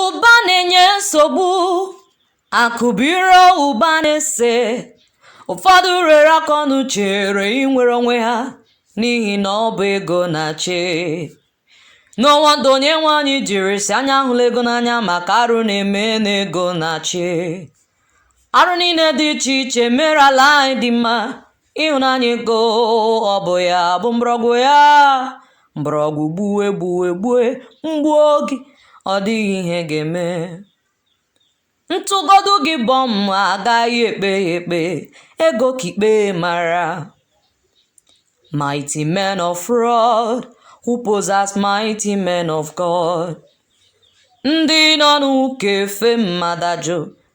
ụba na-enye nsogbu akụbiro ụba na-ese ụfọdụ ruru aka ọnụ chere inwere onwe ha n'ihi na ọ bụ ego na-achị n'ọnwa ndụ onye nwe anyị jiri sị anyị ahụla ego n'anya maka arụ na-eme na ego na-achị arụ niile dị iche iche mere ala anyị adị mma ịhụnanya ego ọ bụ ya bụ mgbọrọgwụ ya mgbọrọgwụ gbue gbue gbue m gbuo gị ọ dịghị ihe ga-eme m tụgodu gị bọm agaghị ekpe ya ekpe ego ka ikpe mara mighty men of fraud who pose as mighty men of god ndị nọ n'ụka efe mmadụ ajụ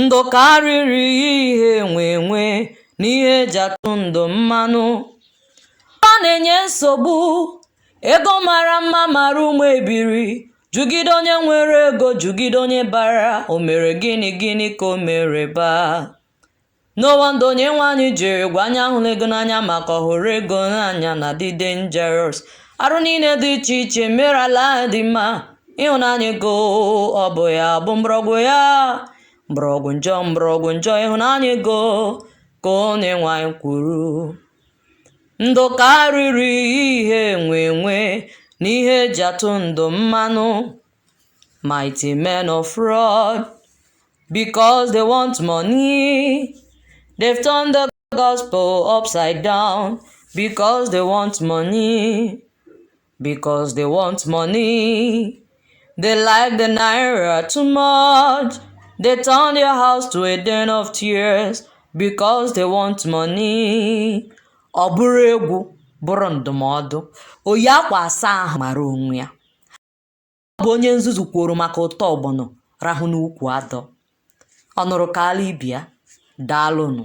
ndụ karịrị ihe enwe enwe na ihe eji atụ ndụ mmanụ ọ na-enye nsogbu ego mara mma mara ụmụ ebiri jụgide onye nwere ego jụgide onye bara o mere gịnị gịnị ka o mere baa N'ụwa ndụ Onyenwe anyị jiri gwa anyị ahụla ego n'anya maka ọhụrụ ego n'anya na-adị dangerous. Arụ niile dị iche iche mere ala adị mma. Ịhụnanya ego ọ bụ ya bụ mgbọrọgwụ ya? Mgbọrọgwụ njọ mgbọrọgwụ njọ ịhụnanya ego ka Onyenwe anyị kwuru. Ndụ karịrị ihe enwe enwe na ihe eji atụ ndụ mmanụ. Mighty men of fraud, because they want money. They've turned the gospel upside down because they want money. Because they want money. They like the naira too much. They turn their house to a den of tears because they want money. Ọ bụrụ egwu bụrụ ndụmọdụ, oyi akwa asaa ahụ mara onwe ya. ọ bụ onye nzuzu kwọrọ maka ụtọ ọgbọnọ rahụ n'ukwu adọ ọ nụrụ kaara ibe ya daalụnụ